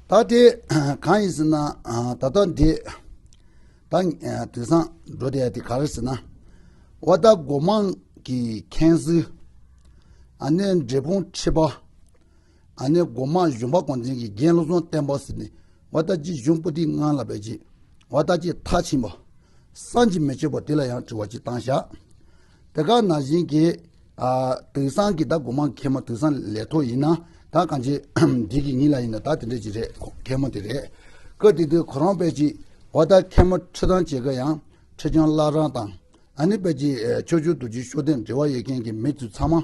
ད་དེ་གང་ཡིན་ཟེར་ན་ད་ལྟ་འདི་ད་དེང་སང་འགྲོ་བསྡད་དེ་ག་རེ་ཟེར་ན་བ་ད་སྒོ་མང་གི་མཁན་སུ་ཨ་ནེ་འབྲས་སྤུངས་ཁྲི་པ་ཨ་ནེ་སྒོ་མང་གཞུང་པ་གོང་ཆེན་གྱི་རྒན་བློ་བཟང་བསྟན་པ་ཟེར་ནས་བ་ད་ཅི་གཞུང་པོ་ཏི་ངང་ལ་བས་ཅི་བ་ད་ཅི་མཐའ་ཕྱིན་པ་སང་ཅི་མི་ཆོད་པ་དེ་ལ་ཡང་དྲི་བ་ཅི་བཏང་ཤག། དེ་ག་ན་བཞིན་གྱི། དེང་སང་གི་ད་སྒོ་མང་མཁལ་མ་དེང་སང་ལས་ཐོག་ཡིན་ན་ད་གང་ཅི་འགྲིག་གི་ཉིན་ལ་ཡིན་ན་ད་དེ་འདྲས་ཅིག་རེད་མཁལ་མ་དེ་རེད། སྐབས་དེ་དུས་ཁོ་རང་དཔལ་གྱིས་བ་ད་མཁལ་མ་ཁྲི་ཐང་བྱེད་གི་ཡང་ཁྲི་བྱང་བླ་རང་དང་ཨ་ནི་དཔལ་གྱིས་ཆོས་ཆོས་དུ་གྱིས་ཤོ་ཏན་འབྲེལ་བ་ཡོད་མཁན་གྱི་མི་ཚུལ་ཚང་མ་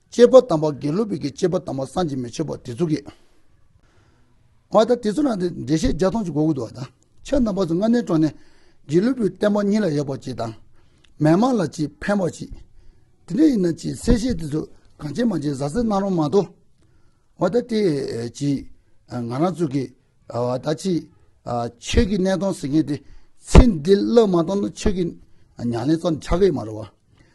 སྤྱད་པ་དམ་པ་དགེ་ལུགས་པའི་གི་སྤྱད་པ་དམ་པ་སངས་རྒྱས་མི་ཆོད་པ་དེ་ཚོ་གི། བ་དང་དེ་ཚོ་ན་དེ་འགྲེལ་བཤད་བརྒྱ་སྟོང་གཅིག་གོ་དགོས་འདུག་བ་དང་ཕྱག་རྣམ་པ་སུ་ལྔ་གནས་གྲོང་ནས་དགེ་ལུགས་པའི་བསྟན་པ་ཉིད་ལ་ཡོད་པ་གཅིག་དང། མན་མང་ལ་གཅིག་ཕན་པ་གཅིག། དེ་འདྲ་ཡིན་ན་གཅིག་གསལ་བཤད་དེ་ཚོ་གང་བྱེད་མ་བྱེད་གཟའ་ཟིན་གནང་རོགས་མ་གཏོགས། བ་དང་དེ་གཅིག་ང་རང་ཚོ་གི། བ་དང་གཅིག་ཆོས་ཀྱི་གནས་སྟོང་ཟེར་མཁན་དེ་ཚེ་འདི་བློས་མ་གཏོང་ན་ཆོས་ཀྱི་ཉང་ལེན་ཙམ་ཆགས་ཀྱི་མ་རེད་བ།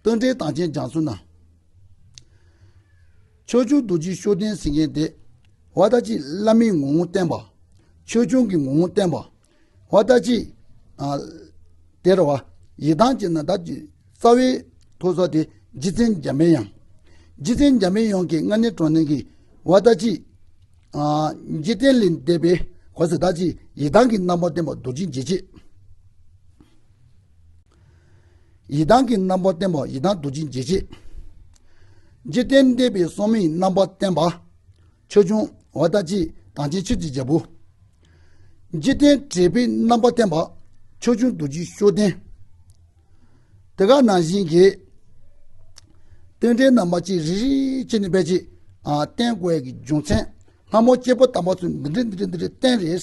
སྟོན་འབྲེལ་དང་ཆེན་སྦྱངས་ཚུལ་ན། ཆོས་འབྱུང་རྡོ་རྗེའི་བཤོས་ལྡན་གཟིགས་མཁན་ཏེ། བ་ལྟ་ཅི་བླ་མའི་ངོ་བོ་བསྟན་པ། ཆོས་འབྱུང་གི་ངོ་བོ་བསྟན་པ། བ་ལྟ་ཅི། དེར་བ། ཡི་དྭགས་ཀྱི་ན་བདག་གི། རྩ་བའི་ཐོ་ས་དེ་རྗེ་བཙན་འཇམ་པའི་དབྱངས། རྗེ་བཙན་འཇམ་པའི་དབྱངས་ཀྱི་མངལ་གནས་གྲོང་བརྡལ་གྱི། བ་ལྟ་ཅི། རྗེ་བཙན་ལས་འདས་པའི་བ། ཟེ་བདག་ཅི་ཡི་དྭགས་ཀྱི་རྣམ་པར་བསྟན་པ་རྡོ་རྗེ་འཇིགས་བྱེད། ཡི་དྭགས་ཀྱི་རྣམ་པར་བསྟན་པ་ཡི་དྭགས་རྡོ་རྗེ་འཇིགས་བྱེད། འཇིག་རྟེན་འདས་པའི་སྲོག་མེའི་རྣམ་པར་བསྟན་པ། ཆོས་འབྱུང་བ་ལྟ་ཅི་དང་ཅིའི་ཕྱིར་གྱི་རྒྱལ་པོ། འཇིག་རྟེན་བྲལ་པའི་རྣམ་པར་བསྟན་པ། ཆོས་འབྱུང་རྡོ་རྗེ་གཤོག་ལྡན། དེ་ཀ་ན་བཞིན་གྱི། སྟོན་འགྲེལ་རྣམ་པ་གཅིག་རིག་རིག་བྱེད་ནི་དཔལ་གྱི། བསྟན་དགོས་ཀྱི་རྒྱུ་མཚན། སྔ་མོ་སྐྱེས་བུ་དམ་པ་ཚོས་འདི་འདྲའི་འདི་འདྲའི་འདི་འདྲའི་བསྟན་རེད།